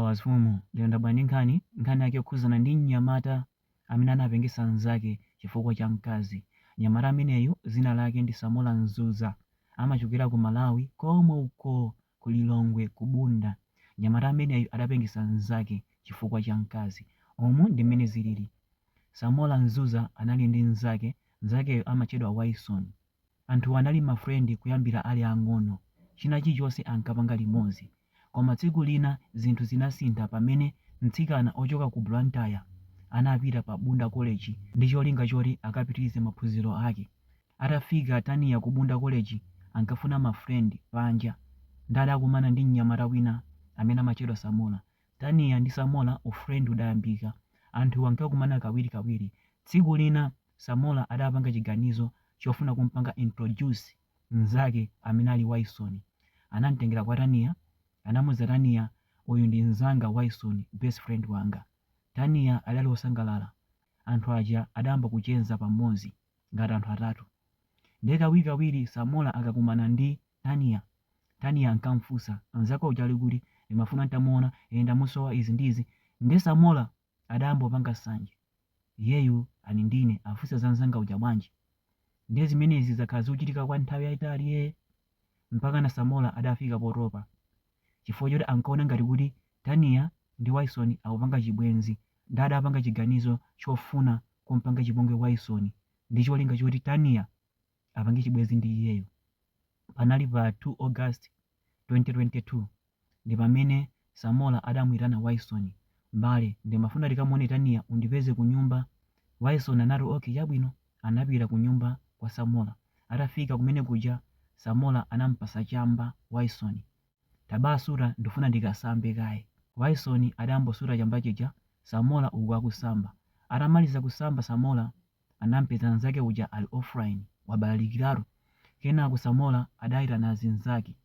Mafumu lero ndabwera ndi nkhani, nkhani yake yokhudzana ndi mnyamata amene anapengesa nzake chifukwa cha mkazi. Mnyamata ameneyu dzina lake ndi Samora Mzuza, amachokera ku Malawi komwe uko ku Lilongwe ku Bunda. Mnyamata ameneyu adapengesa nzake chifukwa cha mkazi. Umu ndi mmene zilili. Samora Mzuza anali ndi nzake, nzakeyo amatchedwa Waisoni. Anthuwa anali ma friend kuyambira ali ang'ono, china chilichonse ankapanga limodzi. Koma tsiku lina zinthu zinasintha pamene mtsikana ochoka ku Blantyre anapita pa Bunda College ndi cholinga choti akapitilize maphunziro ake. Atafika Tania ku Bunda College ankafuna ma friend panja nde adakumana ndi mnyamata wina amene amatchedwa Samora. Tania ndi Samora u friend udayambika. Anthuwa ankakumana kawirikawiri. Tsiku lina. Samora adapanga chiganizo chofuna kumpanga introduce mzake amene ali Waisoni. Anamtengera kwa Tania, anamuuza Tania uyu ndi mzanga Waisoni best friend wanga. Tania adali osangalala. Anthu aja adayamba kucheza pamodzi ngati anthu atatu. Ndiye kawirikawiri Samora akakumana ndi Tania, Tania ankamfunsa, mzako uja ali kuti? Ndimafuna ntamuona, ee ndamusowa izi ndi izi. Ndiye Samora adayamba kupanga nsanje iyeyu ali ndi ine afunsa za mnzanga uja bwanji ndiye zimenezi zakhala zikuchitika kwa nthawi yayitali ee mpakana Samora adafika potopa chifukwa choti ankaona ngati kuti Tania ndi Wyson akupanga chibwenzi ndiye adapanga chiganizo chofuna kumpanga chipongwe Wyson ndi cholinga choti Tania apange chibwenzi ndi iyeyo. Panali pa 2 August 2022 ndipamene Samora adamuitana Wyson, M'bale ndimafuna tikamuone Tania undipeze kunyumba. Wyson anati ok chabwino. Anapita kunyumba kwa Samora. Atafika kumene kuja Samora anampasa chamba Wyson. Tabasuta ndifuna ndikasambe kaye. Wyson adayambosuta chamba chija Samora uku akusamba. Atamaliza kusamba Samora anampeza nzake uja ali offline wabalalikiratu kenako Samora adaitana azinzake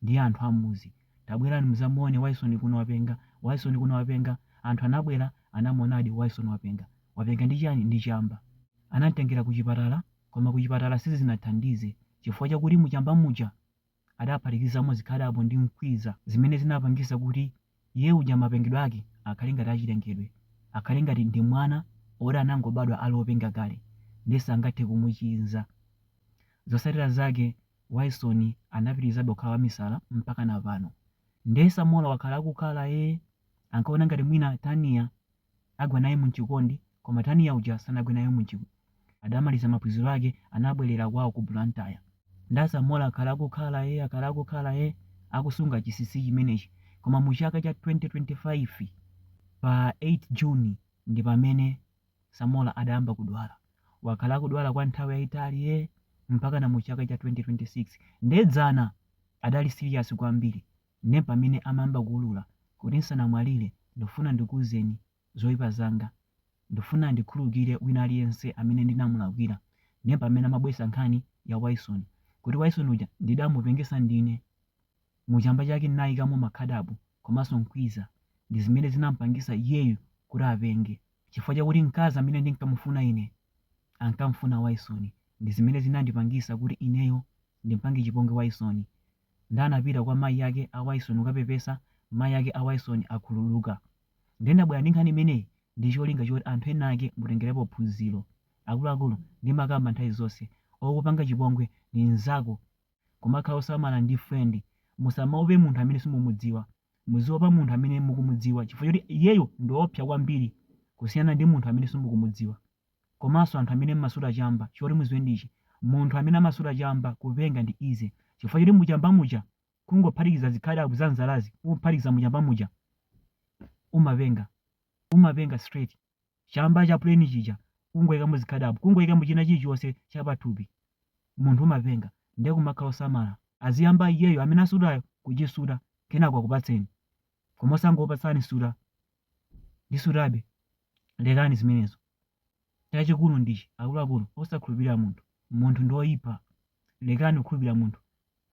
ndi anthu ammudzi tabwerani mudzamuone Wyson kuno wapenga Wyson kuno wapenga anthu anabwera anamuonadi Wyson wapenga wapenga ndi chani ndi chamba anamtengera kuchipatala koma kuchipatala sizinathandize chifukwa chakuti muchamba muja adaphatikizamo zikhadabo ndi mkwiza zimene zinapangisa kuti iye uja mapengedwe ake akhale ngati achilengedwe, akhale ngati ndi mwana oti anangobadwa ali openga kale nde sangathe kumuchiza. Zosatira zake Wyson anapitilizabe kukhala wamisala mpakana pano. Nde Samora wakhala akukhala ee ankaona ngati mwina Tania agwa naye mchikondi koma Tania uja sanagwe naye munchik adamaliza maphunziro ake anabwerera kwawo ku Blantyre nde Samora akhala akukhala ee akhala akukhala ee akusunga chisisi chimenechi koma mu chaka cha 2025 pa 8 June ndi pamene Samora adayamba kudwala wakhala akudwala kwa nthawi yayitali ee mpakana mu chaka cha 2026 nde dzana adali serious kwambiri ndepamene amayamba kuulula kuti nsanamwalire ndifuna ndikuuzeni zoipa zanga, ndifuna andikhululukire wina aliyense amene ndinamulakwira, ndepamene amabweretsa nkhani ya Wyson kuti Wyson uja ndidamupengesa ndine, mu chamba chake ndinaikamo makhadabo komanso nkwiza ndizimene zinampangisa iyeyu kuti apenge chifukwa chakuti mkazi amene ndinkamufuna ine ankamufuna Wyson ndizimene zinandipangisa kuti ineyo ndimpange chipongwe Wyson Nde anapita kwa mayi ake a Wyson kukapepesa, mayi ake a Wyson akhululuka. Nde ndabwera ndi nkhani imeneyi ndi cholinga choti anthu enaake mutengerepo phunziro. Akuluakulu ndimakamba nthawi zonse, okupanga chipongwe ndi mnzako. Kumakhala osamala ndi friend. Musamaope munthu amene simumudziwa. Muziopa munthu amene mukumudziwa chifukwa choti iyeyo ndi oopsa kwambiri kusiyana ndi munthu amene simukumudziwa. komanso anthu amene mmasuta chamba choti muziwe ndichi munthu amene amasuta chamba kupenga ndi easy chifukwa choti muchamba muja kungophatikiza zikhadabo za nzalazi kungophatikiza muchamba muja umapenga umapenga straight chamba cha plain chija kungoyikamo zikhadabo kungoyikamo china chilichonse chapathupi munthu umapenga ndiye kumakhala osamala aziyamba iyeyo amene asutayo kuchisuta kenako akupatseni koma osangopatsani suta ndisutabe lekani zimenezo chachikulu ndichi akuluakulu osakhulupirira munthu munthu ndi oyipa lekani kukhulupirira munthu